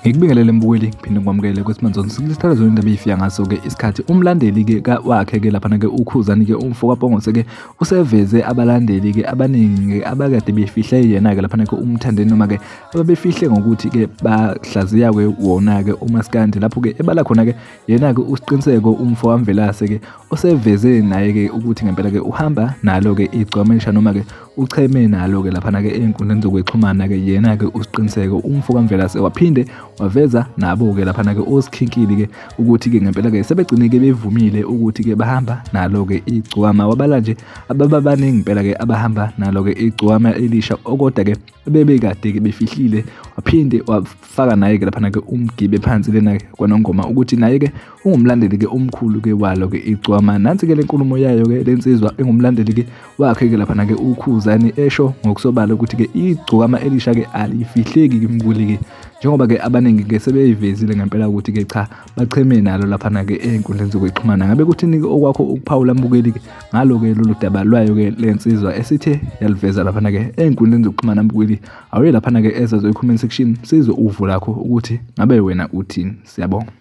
ngikubingelele mbukeli ngiphinde ngikwamukele ukuthi manzonke sikulisthala zona indaba eyifiya ngaso-ke isikhathi umlandeli-ke wakhe-ke laphana-ke ukhuzani-ke umfokapongose-ke useveze abalandeli-ke abaningi-ke abakade befihle yena-ke laphana-ke umthandeni noma-ke ababefihle ngokuthi-ke bahlaziya-ke wona-ke umaskandi lapho-ke ebala khona-ke yena-ke usiqiniseko umfo wamvelase-ke oseveze naye-ke ukuthi ngempela-ke uhamba nalo-ke igcwamesha noma-ke ucheme nalo-ke laphana-ke ey'nkundleni zokwexhumana-ke yena-ke usiqiniseko umfo kamvelase waphinde waveza nabo-ke laphana-ke osikhinkili-ke ukuthi-ke ngempela-ke sebegcine-ke bevumile ukuthi-ke bahamba nalo-ke igcwama wabala nje abababaningi impela-ke abahamba nalo-ke igcwama elisha okoda-ke bebekade-ke befihlile waphinde wafaka naye-ke laphana-ke umgibe phansi lena kwanongoma ukuthi naye-ke ungumlandeli-ke omkhulu-ke walo-ke icwama nansi-ke le nkulumo yayo-ke le nsizwa engumlandeli-ke wakhe-ke laphana-ke ukhuzani esho ngokusobala ukuthi-ke igcokama elisha-ke alifihleki-ke mkuli-ke njengoba-ke abaningi-ke sebeyivezile ngempela ukuthi-ke cha bacheme nalo laphana-ke ey'nkundleni zokuxhumana ngabe kuthini-ke okwakho ukuphawula mbukeli-ke ngalo-ke lolu daba lwayo-ke le nsizwa esithe yaliveza laphana-ke ey'nkundleni zokuxhumana mbukeli awuye laphana-ke ezazo i-comment section sizwe uvo lakho ukuthi ngabe wena uthini siyabonga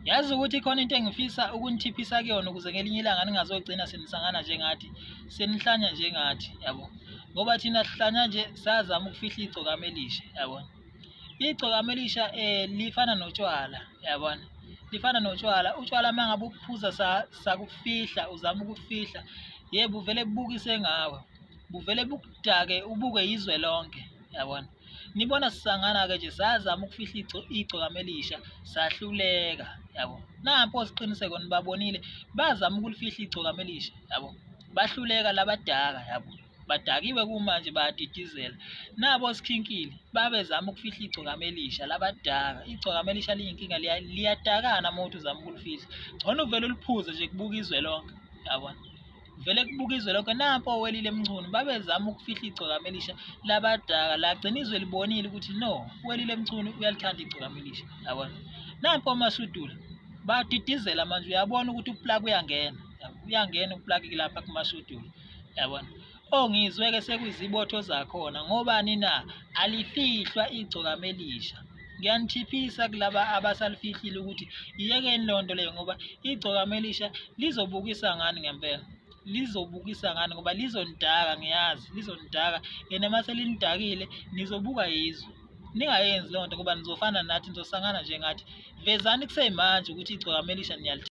yazi ukuthi khona into engifisa ukunithiphisa kuyona ukuze ngelinye ilanga ningazogcina senisangana njengathi senihlanya njengathi yabo ngoba thina sihlanya nje sazama ukufihla igcokama elisha yabona igcokama elisha um lifana notshwala yabona lifana notshwala utshwala uma ngabe ukuphuza sakufihla uzama ukufihla ye buvele bubukise ngawe buvele bukudake ubuke izwe lonke yabona nibona sisangana-ke nje sazama ukufihla igcokama elisha sahluleka yabo nampo siqiniseko nibabonile bazama ukulifihla igcokama elisha yabo bahluleka labadaka yabo badakiwe kumanje bayadidizela nabo sikhinkile babezama ukufihla igcokama elisha labadaka igcokama elisha liyinkinga liyadakana uma uthi uzama ukulifihla ngcono uvele uliphuze nje kubuka izwe lonke yabona vele kubuka izwe lonke nampo owelile emchunu babezama ukufihla igcokama elisha labadaka lagcina izwe libonile ukuthi no welile emchunu uyalithanda igcokama elisha yabona nampo amasudula badidizela manje uyabona ukuthi uplaki uyangena uyangena uplaki lapha kumasudula yabona ongizwe ke sekuyizibotho zakhona ngobani na alifihlwa igcokama elisha ngiyanithiphisa kulaba abasalifihlile ukuthi iyekeni loo nto leyo ngoba igcokama elisha lizobukisa ngani ngempela lizobukisa ngani ngoba lizonidaka ngiyazi lizonidaka yena uma selinidakile nizobuka yizwe ningayenzi loo nto ngoba nizofana nathi nizosangana njengathi vezani kusemanje ukuthi igcokama elisha niyalithanda